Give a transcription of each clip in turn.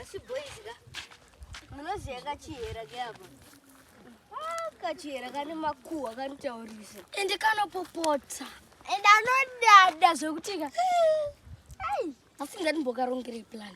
asi boys ka munoziva kachihera keapa ah, kachihera kane makuhwa kanotaurisa ende kanopopota ende anodada zvekutika asi ndati mbokarongere plan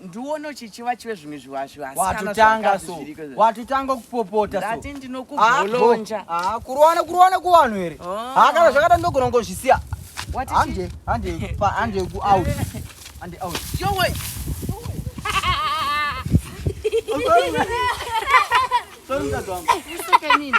ndiwono chichiva chive zvimwe zviwazviwatotanga so watotanga kupopota ndati ndinokugolonja ah, ah, kurowana kurowana kuvanhu here oh. ah, kana zvakada ndogona kungozvisiya hande hande hande kuout hande out yowe Sorry, mtazamo. Isso que é mini.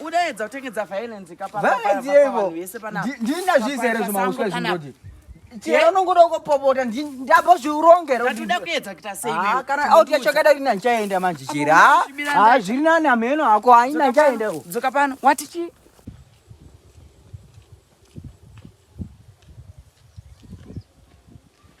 Udaedza kutengedza violence ka papa violence yevo. Ndina zvizere zvima uswa zvingodi. Chero unongoda kupopota ndabva zviurongero. Ndatoda kuedza kuita sei wewe? Ah kana out yacho kada rina chaenda manje chira. Ah zviri nani ameno hako haina chaenda. Dzoka pano. Wati chi?